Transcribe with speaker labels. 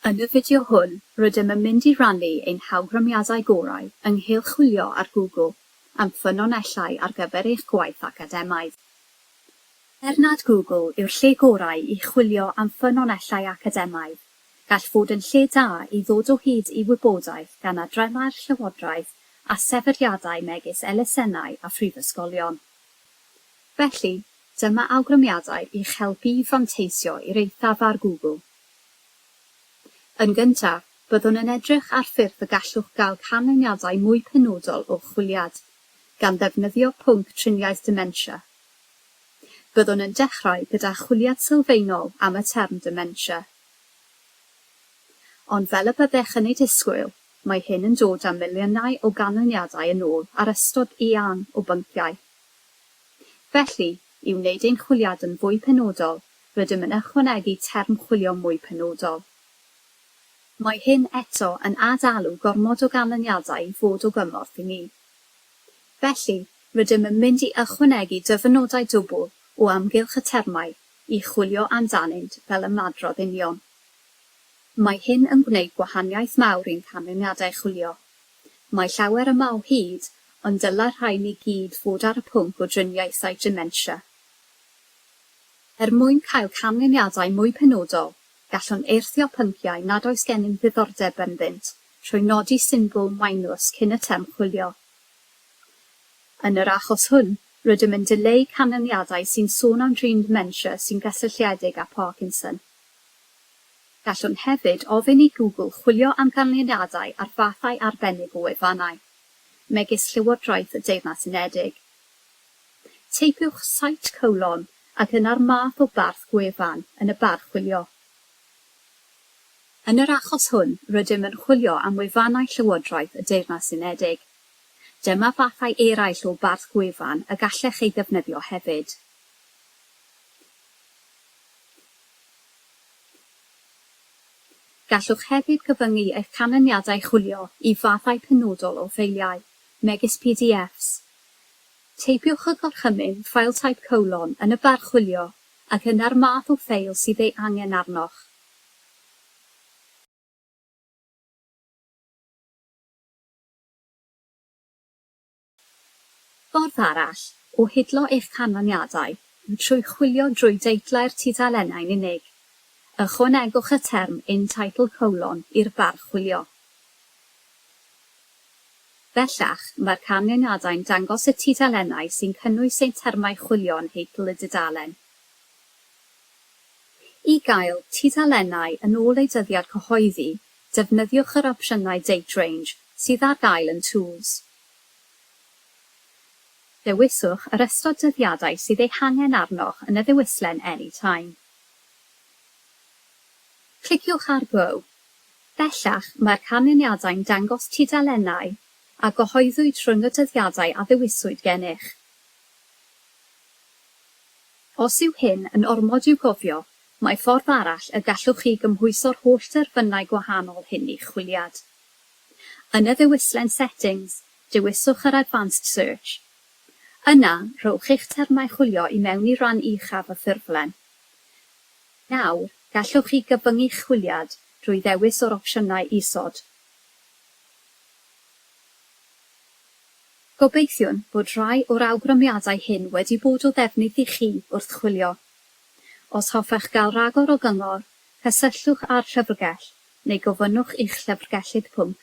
Speaker 1: Yn y fideo hwn, rydym yn mynd i rannu ein hawgrymiadau gorau ynghylch chwilio ar Google am ffynonellau ar gyfer eich gwaith academaidd. Er nad Google yw'r lle gorau i chwilio am ffynonellau academaidd, gall fod yn lle da i ddod o hyd i wybodaeth gan adreddau'r llywodraeth a sefydliadau megis elusennau a phrifysgolion. Felly, dyma awgrymiadau i'ch helpu i fanteisio i'r eithaf ar Google. Yn gyntaf, byddwn yn edrych ar ffyrdd y gallwch gael canlyniadau mwy penodol o'ch chwiliad, gan ddefnyddio pwnc triniaeth dementia. Byddwn yn dechrau gyda chwiliad sylfaenol am y term dementia. Ond fel y byddech yn ei disgwyl, mae hyn yn dod â miliynau o ganlyniadau yn ôl ar ystod eang o bynciau. Felly, i wneud ein chwiliad yn fwy penodol, Rydym yn ychwanegu term chwilio mwy penodol. Mae hyn eto yn ad-alw gormod o ganlyniadau i fod o gymorth i ni. Felly, rydym yn mynd i ychwanegu dyfynodau dwbl o amgylch y termau i chwilio amdanynt fel ymadrodd union. Mae hyn yn gwneud gwahaniaeth mawr i'n canlyniadau chwilio. Mae llawer yma o hyd, ond dylai'r rhain i gyd fod ar y pwnc o driniaethau dementia. Er mwyn cael canlyniadau mwy penodol, gallwn eirthio pynciau nad oes gennym ddiddordeb ynddynt trwy nodi symbol minus cyn y term chwilio. Yn yr achos hwn, rydym yn dileu canlyniadau sy'n sôn am drin ddementia sy'n gysylltiedig â Parkinson. Gallwn hefyd ofyn i Google chwilio am ganlyniadau ar fathau arbennig o wefannau, megis Llywodraeth y Deyrnas Unedig. Teipiwch site colon ac yna'r math o barth gwefan yn y bar chwilio. Yn yr achos hwn, rydym yn chwilio am wefannau Llywodraeth y Deyrnas Unedig. Dyma fathau eraill o barth gwefan y gallech eu ddefnyddio hefyd. Gallwch hefyd gyfyngu eich canlyniadau chwilio i fathau penodol o ffeiliau, megis PDFs. Teipiwch y Gorchymyn, File Type Colon, yn y bar chwilio, ac yna'r math o ffeil sydd ei angen arnoch. Ffordd arall o hidlo eich canlyniadau yw trwy chwilio drwy deitlau'r tudalennau'n unig. Ychwanegwch y term In Title Colon i'r bar chwilio. Bellach, mae'r canlyniadau'n dangos y tudalennau sy'n cynnwys ein termau chwilio yn nheitl y dudalen. I gael tudalennau yn ôl eu dyddiad cyhoeddi, defnyddiwch yr opsiynau Date Range sydd ar gael yn Tools. Dewiswch yr ystod dyddiadau sydd eu hangen arnoch yn y ddewislen Any Time. Cliciwch ar Go. Bellach, mae'r canlyniadau'n dangos tudalennau a gyhoeddwyd rhwng y dyddiadau a ddewiswyd gennych. Os yw hyn yn ormod i'w gofio, mae ffordd arall y gallwch chi gymhwyso'r holl derfynau gwahanol hyn i'ch chwiliad. Yn y ddewislen Settings, dewiswch yr Advanced Search. Yna, rhowch eich termau chwilio i mewn i ran uchaf y ffurflen. Nawr, gallwch chi gybyngu'ch chwiliad drwy ddewis o'r opsiynau isod. Gobeithiwn fod rhai o'r awgrymiadau hyn wedi bod o ddefnydd i chi wrth chwilio. Os hoffech gael rhagor o gyngor, cysylltwch â'r Llyfrgell neu gofynnwch i'ch Llyfrgellydd Pwnc.